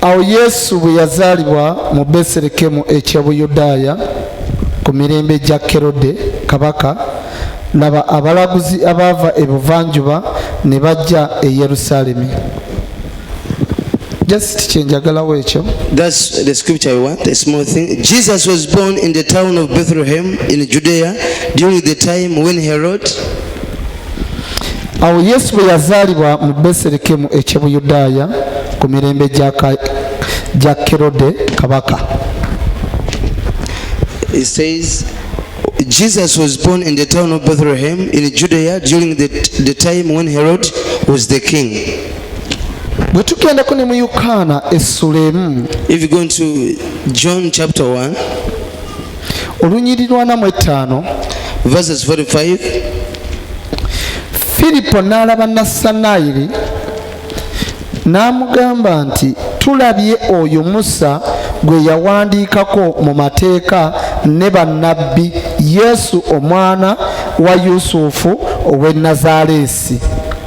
Awo Yesu bwe yazaalibwa mu Beserekemu eky'e Buyudaaya ku mirembe gya Kerode kabaka, laba, abalaguzi abaava ebuvanjuba ne bajja e Yerusaalemi. Just kye njagalawo ekyo. That's the scripture we want, a small thing. Jesus was born in the town of Bethlehem in Judea during the time when Herod awo yesu bwe yazaalibwa mu beserekemu eky'e buyudaaya ku mirembe gya kerode kabaka It says, Jesus was born in the town of Bethlehem in Judea during the, the time when Herod was the king. bwe tugendako ne mu yokaana essula emu if you go into john chapter 1 olunyiri lwana mu ettaano verses 45 firipo n'alaba nassanayiri n'amugamba nti tulabye oyo musa gwe yawandiikako mu mateeka ne bannabbi yesu omwana wa yusufu ow'e nazaaleesi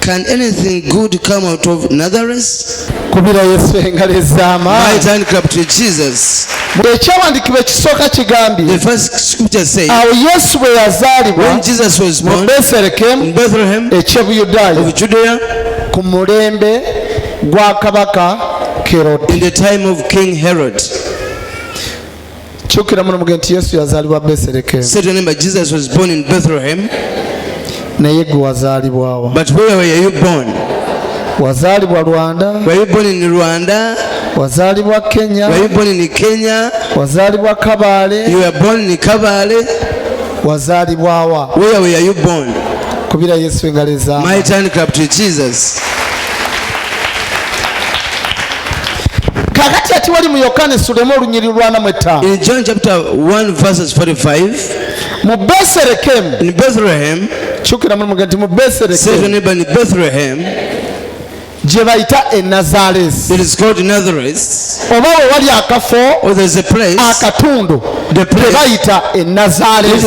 Can anything good come out of Nazareth? kubira yesu engalo ez'amaani ekyawandiikibwa ekisooka kigambye awo yesu bwe yazaalibwa mu beserekemu ekyebuyudaaya ku mulembe gwa kabaka kerode kyukira muno muge nti yesu yazaalibwa beserekemu Say to your neighbor, Jesus was born in Bethlehem, naye gwe wazaalibwawa but where were you born? wazaalibwa rwanda Were you born in Rwanda? wazaalibwa kenya Were you born in Kenya? wazaalibwa kabaale You were born in Kabale? wazaalibwawa Where were you born? kubira yesu engalo ezaama Mighty hand clap to Jesus. kakati ati wali mu yokaana esulemu olunyiri lwanamu ettaano in john chapter 1 verses 45 mu beserekemu in bethlehem kyukira mulimu nti mu beserekemu gye bayita e nazaresi oba we wali akafo akatundu gye bayita e nazaresi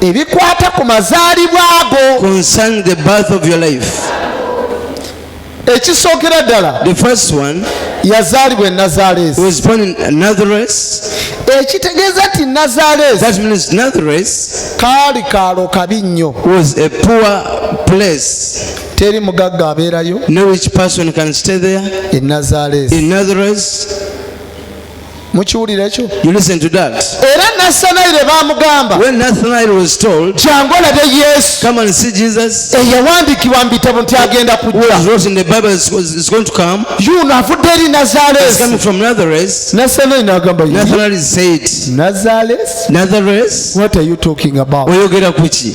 ebikwata ku mazaalibwa ago concern the birth of your life ekisookera ddala the first one yazaalibwa enazaaleesi was born in nazareth ekitegeeza nti nazaaleesi that means nazareth kaali kaalo kabi nnyo was a poor place teri mugagga abeerayo no which person can stay there in nazareth in nazareth mukiwulira ekyo era nasanayire bamugamba jangu olabe yesu eyawandiikibwa mu bitabo nti agenda kujjayuno avudde eri nazalesinazaleoyogera kuki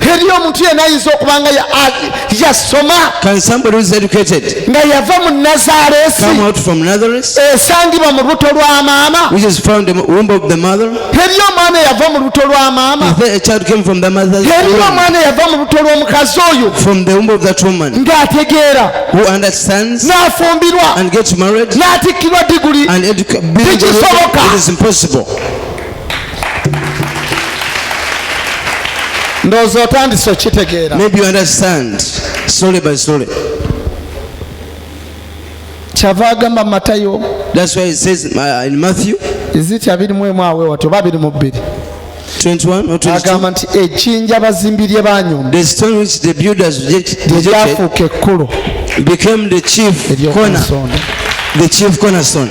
teri omuntu yena ayinza okuba nga yasoma nga yava mu nazaresi esangibwa mu lubuto lwa maama teri omwana eyava mu lubuto lwa maama teri omwana eyava mu lubuto lw'omukazi oyo ng'ategeera n'afumbirwa n'atikkirwa diguli tikisoboka ndowooza otandise okitegeera maybe you understand slowly by slowly kyava agamba matayo that's why it says uh, in matthew is it abiri mu emu awe watyo babiri mu bbiri agamba nti ekinja abazimbi lye banyumba lyafuuka ekkulu became the chief corner the chief cornerstone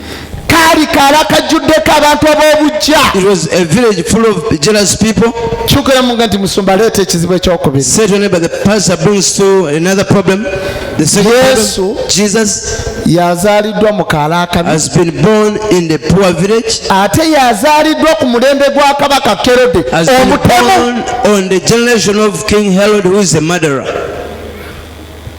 kaali kaala kajjuddeko abantu ab'obujja kyogeramu nga nti musumba aleeta ekizibu ekyokubiyesu yazaaliddwa mu kaala akabi ate yazaaliddwa ku mulembe gwa kabaka kerode omutemu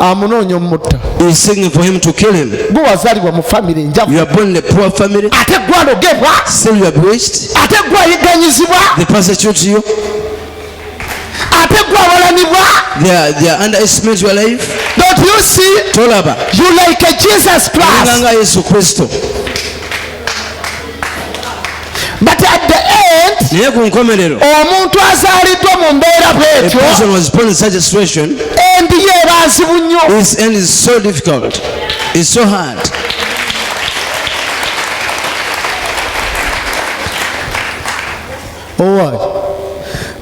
amunoonya omutta gwe wazalibwa mu famiry enjavu ate gwe alogebwa ate gwe ayiganyizibwa ate gwe awalanibwa don't you see tolaba you like a jesus christ nga yesu kristo But at the end, naye ku nkomerero omuntu azaaliddwa mu mbeera bwetyo endi yeeba nzibu nnyo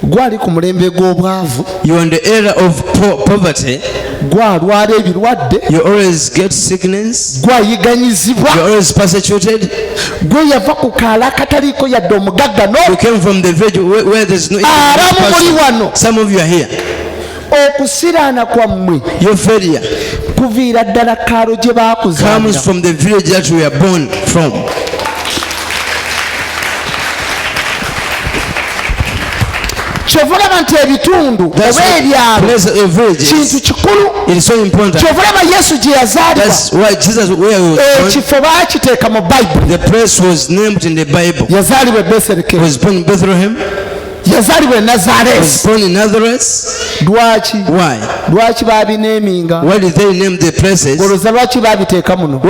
gwali ku mulembe gw'obwavu you on the era of po poverty gwalwala ebirwadde you always get sickness gwayiganyizibwa you always persecuted gwe yava ku kaala akataliiko yadde omugagga no you came from the village where, where there's no some of you are here okusiraana kwammwe your failure kuviira ddala kaalo gye baakuzaalira comes from the village that we are born from kyova olaba nti ebitundu oba ebyalo kintu kikulu kyova olaba yesu gye yazaalibwaekifo baakiteeka mu bayibuli yazaalibwa e beserekemu yazaalibwa e nazareesi lwaki lwaki babineeminga olwoza lwaki babiteeka muno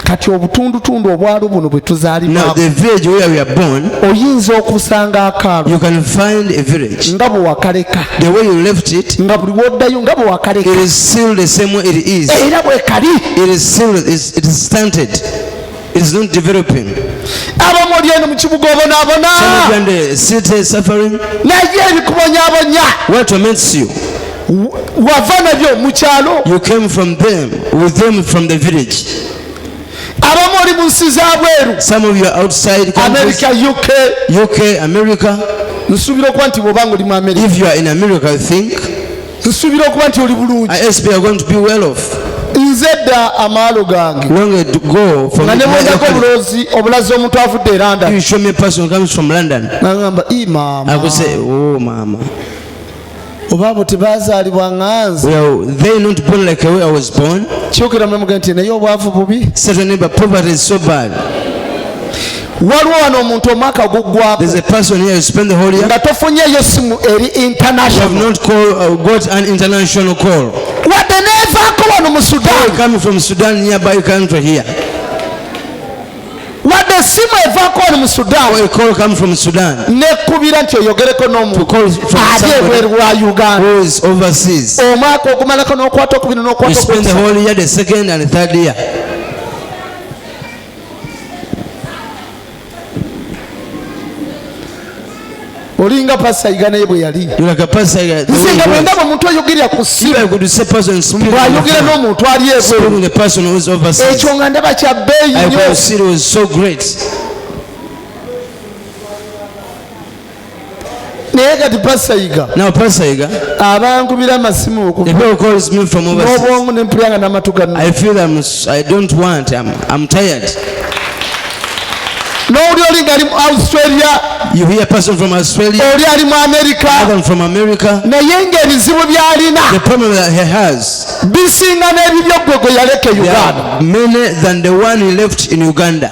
kati obutundutundu obwalo buno bwe tuzaalibwaoyinza okusanga akaalo nga bwe wakaleka nga buli woddayo nga bwe wakaleka era bwe kali is not developing abamu oli eno mu kibuga obonabona naye ebikubonyabonya what torments you wava nabyo mu kyalo you came from them with them from the village abamu oli mu nsi za bweru some of you are outside america uk uk america nsuubira okuba nti bwobanga oli mu america if you are in america i think nsuubira okuba nti oli bulungi nze dda amaalo gange nga ne bwendako obulozi obulazi omuntu avudde e erandangamba i maama oh, oba abo tebazaalibwa nganze kyokera mulamuga nti naye obwavu bubi waliwo wano omuntu omwaka guggwaknga tofunyeyo simu eri international uh, wadde nevaako wano mu sudan wadde esimu evaako wano mu sudan nekubira nti oyogereko n'omuntuali ebweru wa uganda omwaka ogumalako n'okwata okubiri n'okwata olinga pasayiga naye bwe yali nze nga bwendaba omuntu ayogerera ku simuayogera n'omuntu ali ebweru ekyo nga ndaba kya bbeeyi nyo naye kati pasayiga no pasayiga abangubira amasimu okuobwongo nempulanga namatu gano i feel I'm, i don't want I'm, I'm tired n'oli oli ngali mu australia you hear person from australia oli ali mu america other from america naye ng'ebizibu by'alina the problem that he has bisinga n'ebibyo gwe gwe yaleka e uganda many than the one he left in uganda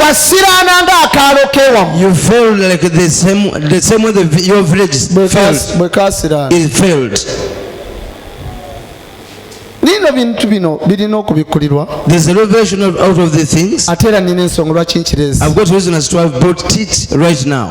wasiraana ng'akaalo kewamu you failed like the same, the same way the, your village failed bwe kasiraana it failed nino bintu bino birina okubikkulirwa there's a revelation of, out of the things ate era nina ensonga lwaki nkirezi i've got reason as to have brought it right now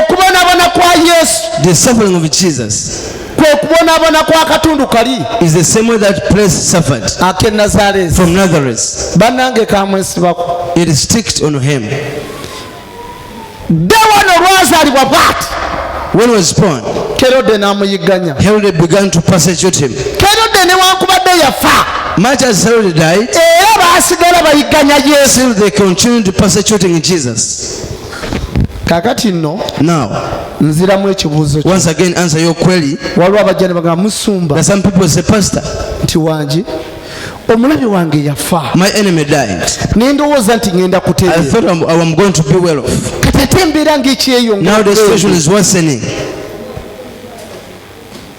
okubonabona kwa yesu the suffering of jesus kwe kubonabona kwa katundu kali is the same way that place suffered ake nazareth from nazareth banange kamwesibako it is sticked on him dde wano lwazalibwa bwati when was born kerode namuyigganya herode began to persecute him kerode newankubadde yafa much as herode died era baasigala bayigganya yesu they continued persecuting jesus kakati nno now nziramu ekibuuzo once again answer your query waliwo abajja ne bagamba musumba some people say pastor nti wangi omulabi wange yafa my enemy died ne ndowooza nti ngenda kuteera i thought I'm, I am going to be well off kati ate embeera ng'ekyeyongera now the situation is worsening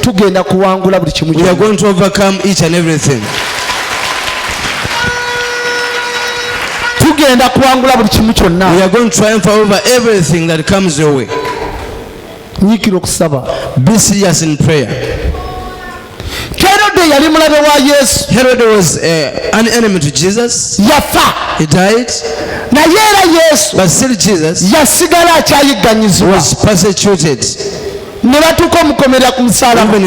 tugenda kuwangula buli kimu tugenda kuwangula buli kimu kyonna nyikira okusaba be serious in prayer herode yali mulabe wa yesu herode was uh, an enemy to jesus yafa he died naye era yesu but still jesus yasigala akyayigganyizibwa was persecuted ne batuuka omukomera ku musalaba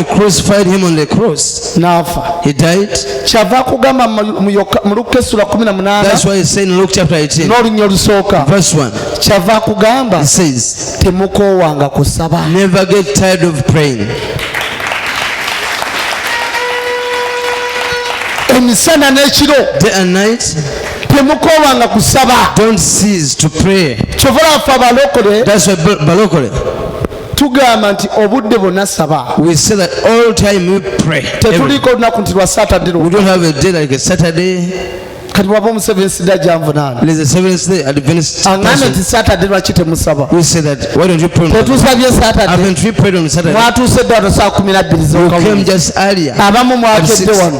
n'afa kyava kugamba mu lukka essula 18 n'olunya olusooka kyava kugamba temukoowanga kusaba emisana n'ekiro temukoowanga kusaba kyovola afe abalokole tugamba nti obudde bwonna saba tetuliiko olunaku nti lwa satadde kati waba omuseveni sida gyanvunaanaangambye nti satadde lwaki temusaba tetusabye satademwatuuse edde wano saa kumi nabbiri zokamu abamu mwakedde wano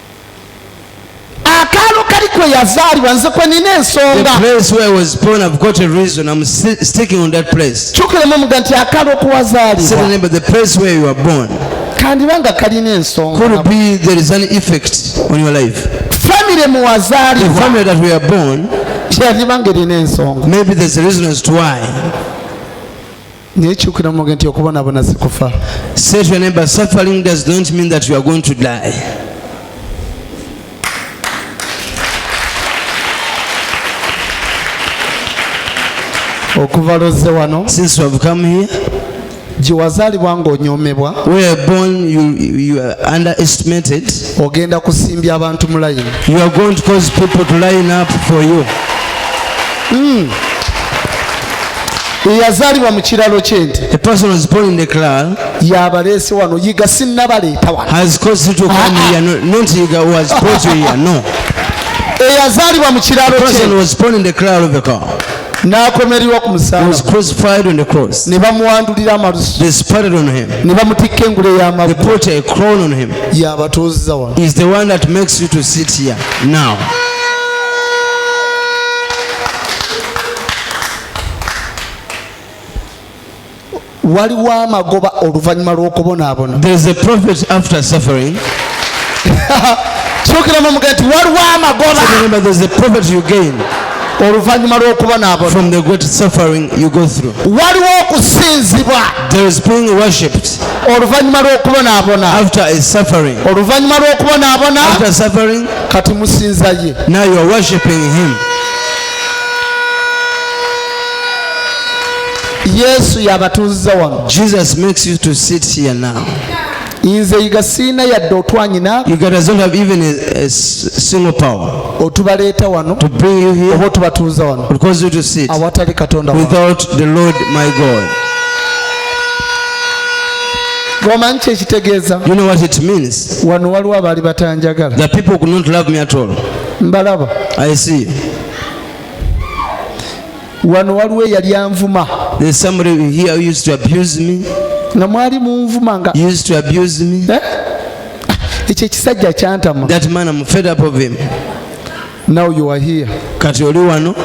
akaalo kali kwe yazaalibwa nze kwe nina ensonga kyukiramu omuga nti akaalo okuwazaalibwa kandiba nga kalina ensonga famire muwazaalibwa yandiba nga erina ensonga naye kyukira muge nti okubonabona sikufa say to your neighbor suffering does not mean that you are going to die okuva lozze wano since you have come here gyewazaalibwa ng'onyomebwa ogenda kusimbya abantu mu layini mm. eyazaalibwa mu kiralo ky'ente yabaleese wano yiga sinnabaleeta wanoeyazaalibwa mu kiralo n'akomererwa ku musalabane bamuwandulira amalusu ne bamutikka engule y'amabuyaabatuuzza wano waliwo amagoba oluvannyuma lw'okubonaabona kyokiramu muga nti waliwo amagoba oluvannyuma lw'okubonaabonawaliwo okusinzibwa oluvannyuma lw'okubonaabona oluvannyuma lw'okubonaabona kati musinza ye yesu yabatuuziza wano jesus makes you to sit here now nze yiga siina yadde otwanyina otubaleeta wano oba otubatuuza wano awatali katonda gomanyi kyekitegeeza wano waliwo abaali batanjagala mbalaba i see wano waliwo eyali anvuma there's somebody here who used to abuse me nga mwali munvuma nga used to abuse me eh? ekyo ekisajja kyantama that man i'm fed up of him now you are here kati oli wano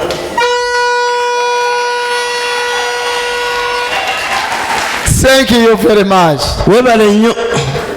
thank you very much webale nnyo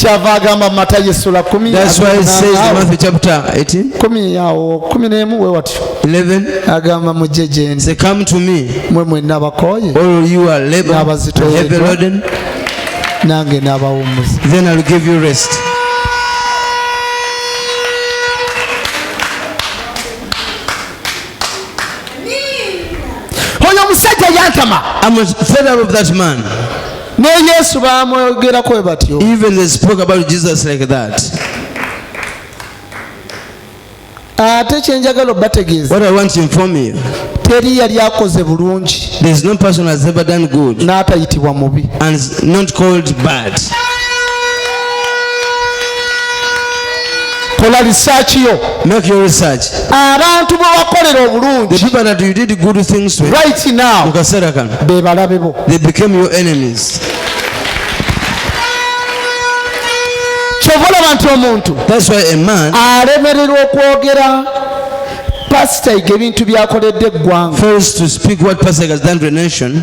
kyava agamba mu matayo essula kumi awo kumi n'emu we watyo agamba mujje gyendi mwe mwenna abakooye n'abazitoyedwa nange n'abawummuza oyo omusajja yantama ne yesu bamwogerako we batyo even they spoke about jesus like that ate kyenjagala obategeeza what i want to inform you teri yali akoze bulungi there is no person has ever done good n'atayitibwa mubi and not called bad kola research yo make your research abantu bwe wakolera obulungi the people that you did good things to right now mu kaseera kano be balabe bo they became your enemies kyova olaba nti omuntu that's why a man alemererwa okwogera pasita iga ebintu byakoledde eggwanga first to speak what pastor has done to the nation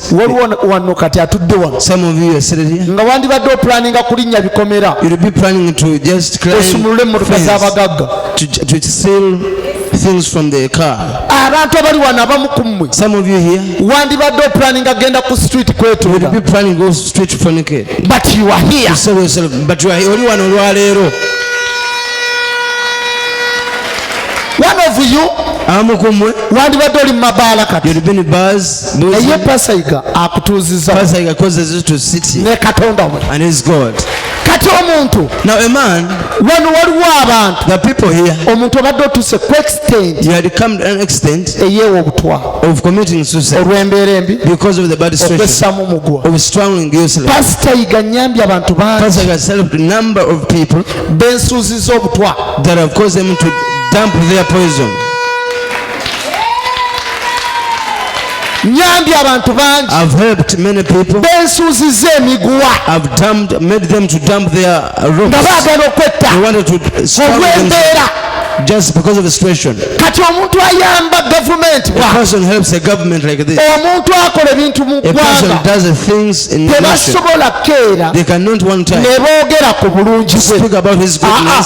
waliwo wano kati atudde wano nga wandibadde opulaninga kulinnya bikomera osumulule emmotoka z'abagagga things from the car abantu abali wano abamu ku mmwe some of you here wandibadde opulaninga agenda ku street kwetunda be planning go street fornicate but you are here you say yourself but you are oli wano olwaleero one of you abamu ku mmwe wandibadde oli mu mabaala kati naye pasaiga akutuuziza ne katonda we kati omuntu wano waliwo abantu omuntu obadde otuse ku extent eyeewa obutwa olw'embeera embi okwessamu mugwa pasita yiga nyambye abantu bangi bensuuziza obutwa nyambye abantu bangi bensuuzizza emiguwa nga baagala okwetta olw'embeera just because of the situation kati omuntu ayamba gavumenti omuntu akola ebintu mu ggwangatebasobola keera ne boogera ku bulungi bwe ah, ah.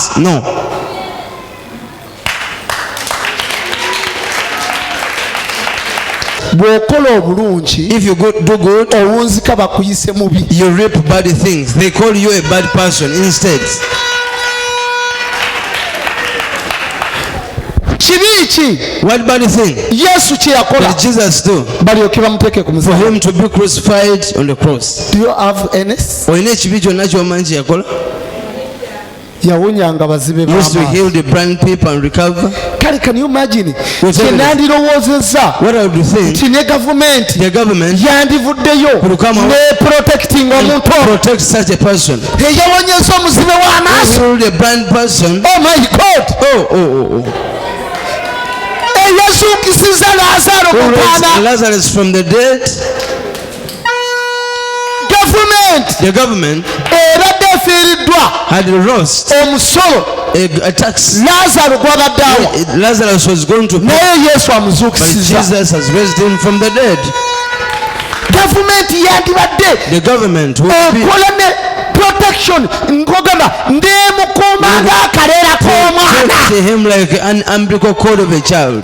bw'okola obulungi if you go, do good owunzika bakuyise mubi you reap bad things they call you a bad person instead kibi ki what bad thing yesu kye yakola jesus do balyoke bamuteeke ku for him to be crucified on the cross do you have any olina ekibi kyonna kyomanyi kye yakola yawonyanga bazibe kale can you imagine kyenandirowoozezza nti ne gavumenti yandivuddeyo ne protecting omuntu eyawonyeza omuzibe w'amaaso oh my god oh, oh, oh, oh. eyazuukisiza lazaro mutaana the government ebadde efiiriddwa had lost omusolo a, a tax lazaro gwabadde awa lazarus was going to naye yesu amuzuukisiza jesus has raised him from the dead gavumenti yandibadde the government okola ne protection nkogamba ndemukuuma ng'akaleera k'omwana him like an umbilical cord of a child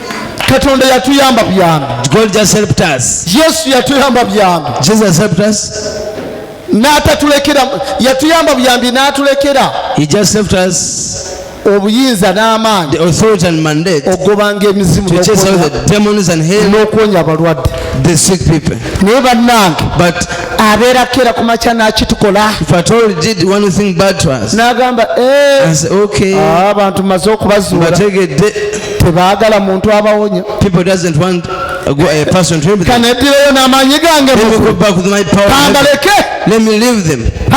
katonda yatuyamba byangu god just helped us yesu yatuyamba byangu jesus helped us n'atatulekera yatuyamba buyambi n'atulekera he just helped us obuyinza n'amaanyi okugobanga emizimu n'okuwonya abalwadde naye bannange abeerako era ku makya n'akitukola n'agamba eh, ah, abantu maze okubazuula tebaagala muntu abawonya kanedireyo n'amaanyi gange kambaleke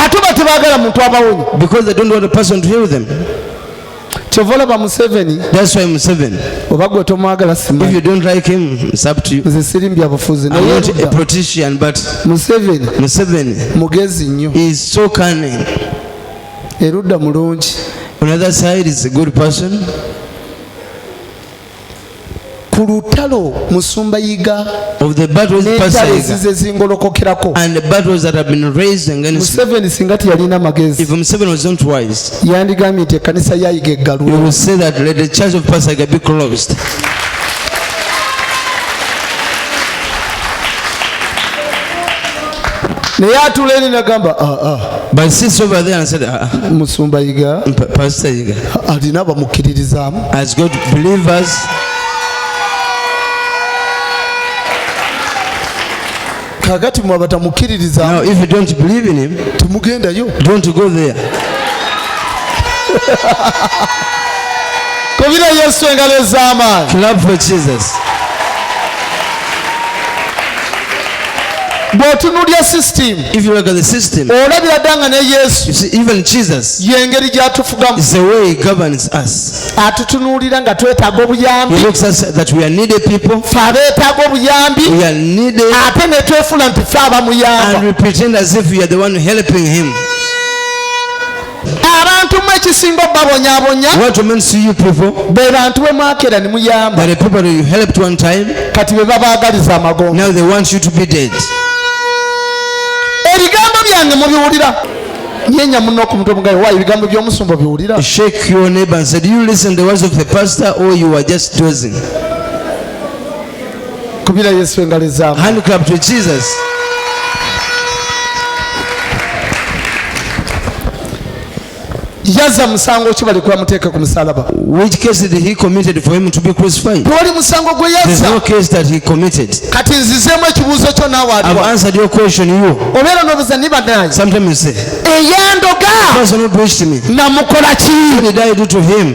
ate oba tebaagala muntu abawonya kyova olaba museveni oba gwe tomwagala simanze siri mbyabufuzi museveni mugezi nnyo erudda mulungi ku lutalo musumba yiga netalesize zingolokokerako museveni singa teyalina magezi yandigambye nti ekkanisa yayiga eggalwe naye atula eri nagamba ah, ah. ah, musumba yiga alina abamukkiririzaamu kakati mwe abatamukkiririzaamutemugendayo kubira yesu engalo ez'amaanyi bw'otunulya system if you look at the system olabira dda nga ne yesu you see even jesus y'engeri gy'atufugamu is the way he governs us atutunuulira nga twetaaga obuyambi he looks us that we are needed people fe abeetaaga obuyambi we are needed ate ne twefula nti fe abamuyamba and we pretend as if we are the one helping him abantu mwe ekisinga obabonyabonya be bantu bwe mwakera ne muyamba kati be babagaliza amagombo ebigambo byange mubiwulira nyenya muno ku mutwe mugayo wayo ebigambo by'omusumba biwulira shake your neighbor and say do you listen the words of the pastor or you are just dozing kubira yesu engalo ezamu hand clap to jesus yaza musango ki bali kubamuteeka ku musalaba which case did he committed for him to be crucified tewali musango gwe yaza there's no case that he committed kati nzizeemu ekibuuzo kyo naawe aliwa i've answered your question you obeera n'obuza ni banaye sometimes you say eyandoga person who preached me namukola ki did i do to him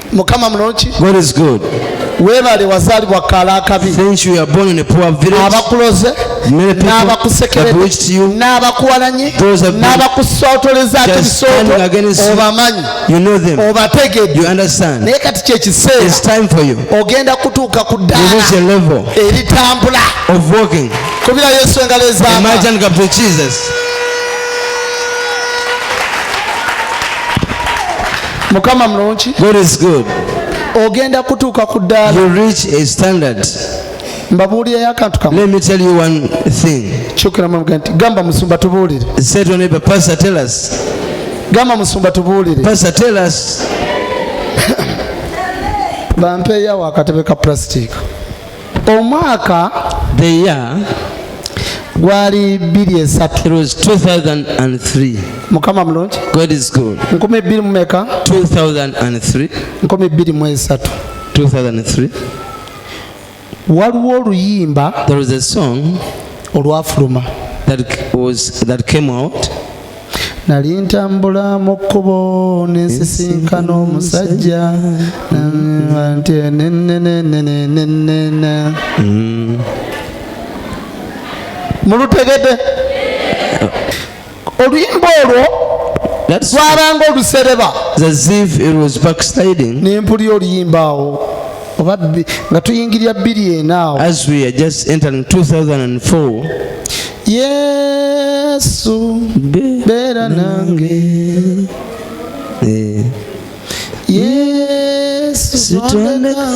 mukama mulungi god is good webale wazalibwa kala akabi abakuloze n'abakusekeredde n'abakuwalanye n'abakusotolezako ebisooto obamanyi obategedde naye kati kyekiseera ogenda kutuuka ku ddaala eritambula kubira yesu engalo ezaama mukama mulungi god is good ogenda kutuuka ku ddaala you reach a standard mbabuulirayo akantu kamu let me tell you one thing kyukira mwamuga nti gamba musumba tubuulire say to neighbor pastor tell us gamba musumba tubuulire pastor tell us bampeeyo awo akatebe ka plastic omwaka the year gwali bbiri esatu it was 2003 mukama mulungi god is good nkumi bbiri mu meka 2003 nkumi bbiri mu esatu 2003 waliwo oluyimba there was a song olwafuluma that was that came out nali ntambula mu kkubo nensisinkana omusajja nti nenenenenenenena mm. mulutegede oluyimba olwo lwabanga olusereba nempulira oluyimba awo oba nga tuyingirira bbiri enaawo yesu beera nange eh. yesu sitondeka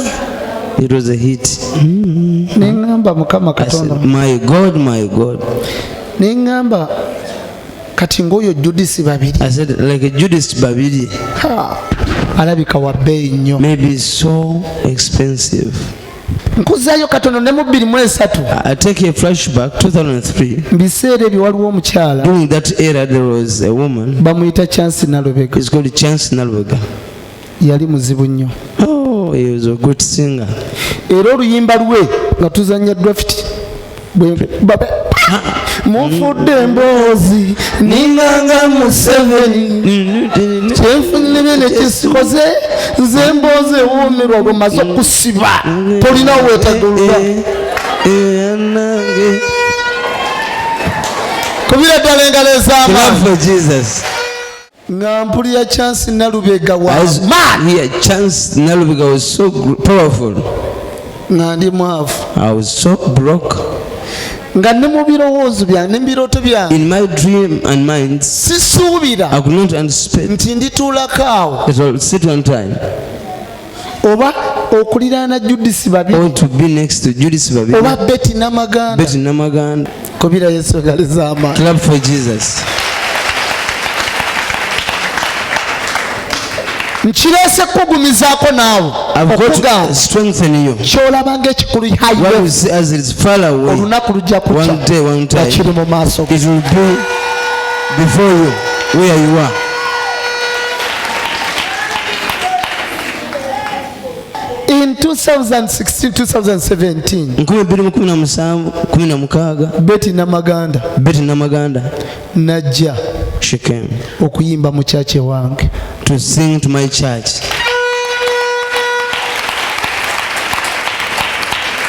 it was a hit mm. nengamba mukama katonda my god my god nengamba kati ngaoyo judisi babiri i said like judisi babiri alabika wabbeeyi nnyo maybe so expensive nkuzayo katono ne mu bbiri mu esatu mu biseera ebyo waliwo omukyala bamuyita chance nalubega yali muzibu nnyo oh, era oluyimba lwe nga tuzanya drafiti mufudde emboozi ninganga museveni kyenfunire nekisikoze nze emboozi ewuumirwa bwemaze okusiba tolina wetagulula kubira ddala engalo ez'amaanyi nga mpulira chance nalubega nga ndi mwavu nga ne mu birowoozo byange ne mu birooto byangesisuubira nti ndituulako awo oba okuliraana judisi babioba beti namaganda kubira yesu engali zamaani nkireese kukugumizaako naawe okugakyolaba nga ekikulu olunaku lujja kukya nga kiri mu maaso go in 2016-2017 beti namaganda beti namaganda najja shikem okuyimba mu church wange to sing to my church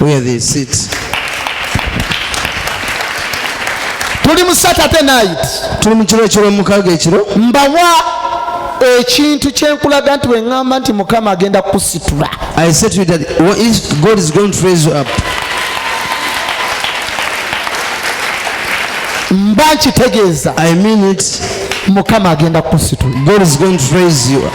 where they sit tuli mu saturday night tuli mu kiro ekyomukaga ekiro mbawa ekintu kyenkulaga nti weŋamba nti mukama agenda kukusitula i said to you that what is god is going to raise you up mba nkitegeeza i mean it mukama agenda kukusitula god is going to raise you up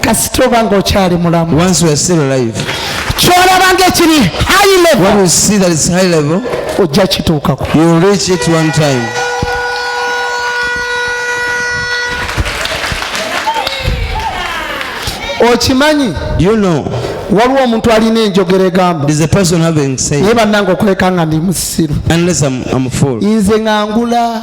kasita oba ng'okyali mulamu kyolaba ng'ekiri high level ojja kituukako okimanyi waliwo omuntu alina enjogera egamba naye bannanga okuleka nga ndi musiru nze ngangula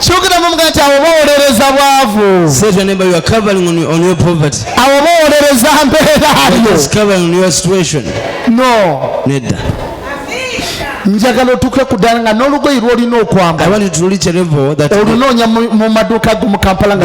kyogeramu mga nti awo bawolereza bwavu awo bawolereza mbeerayo no nedda njagala otuuke ku ddala nga n'olugoyi lwolina okwambala olunoonya mu maduuka go mu kampala nga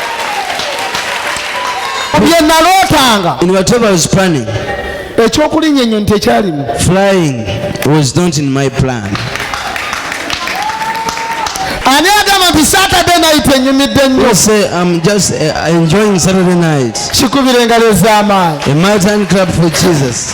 bye nalootanga in whatever I was planning ekyokulinnya ennyonyi tekyalimu flying was not in my plan ani agamba nti saturday night enyumidde nnyo say i'm just uh, enjoying saturday night kikubira engalo ez'amaanyi a mighty hand clap for jesus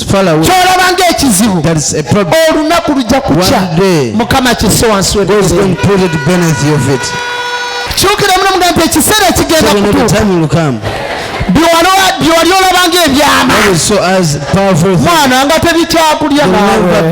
kyolaba ngaekizibu olunaku lujja kukya mukama kise wansi kyukira muno mugambo nti ekiseera ekigenda kutuuka byewali olabanga ebyama mwana nga tebikyakulya nawe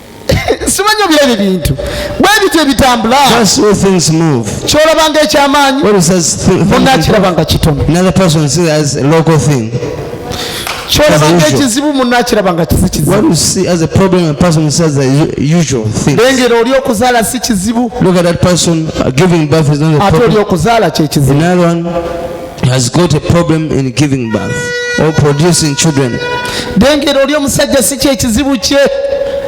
simanyi obira ebyo bintu bwe bityo ebitambula kyolaba nga ekyamaanyi munakiraba nga kitono kyolaba nga ekizibu munakiraba nga kisi kizibulengera oli okuzaala si kizibu uh, ate oli okuzaala kyekizibu has got a problem in giving birth or producing children dengera oli omusajja si kyekizibu kye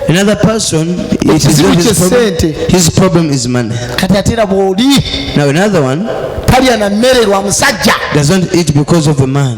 another person it is not his problem. his problem is money kati ate era bw'oli now another one talya na mmere lwa musajja does not eat because of a man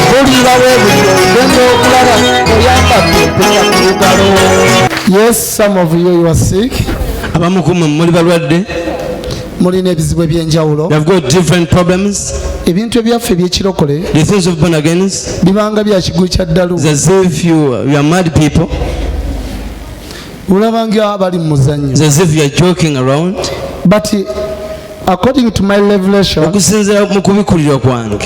Yes, some of you, you are sick. abamu ku mmwe muli balwadde mulina ebizibu ebyenjawulo They've got different problems. ebintu ebyaffe ebyekirokole The things of born again is bibanga bya kigulu kya ddalu as if you, you are mad people, olaba nga bali mu muzannyo it's as if you are joking around. but according to my revelation Okusinziira mu kubikurirwa kwange,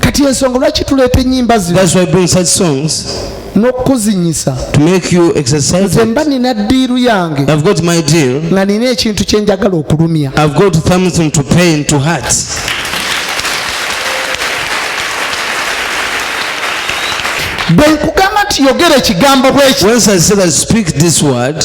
kati ensonga lwaki tuleeta ennyimba zino that's why bring such songs n'okukuzinyisa to make you exercise nze mba nina ddiiru yange i've got my deal nga nina ekintu kye njagala okulumya i've got something to pain to heart bwe nkugamba nti yogera ekigambo bweki when i say that speak this word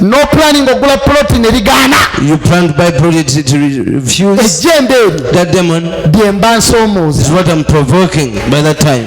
no planning ogula plot ne ligaana you plant by plot it, it refuse ejjembe eryo that demon bye mba nsoomooza is what i'm provoking by that time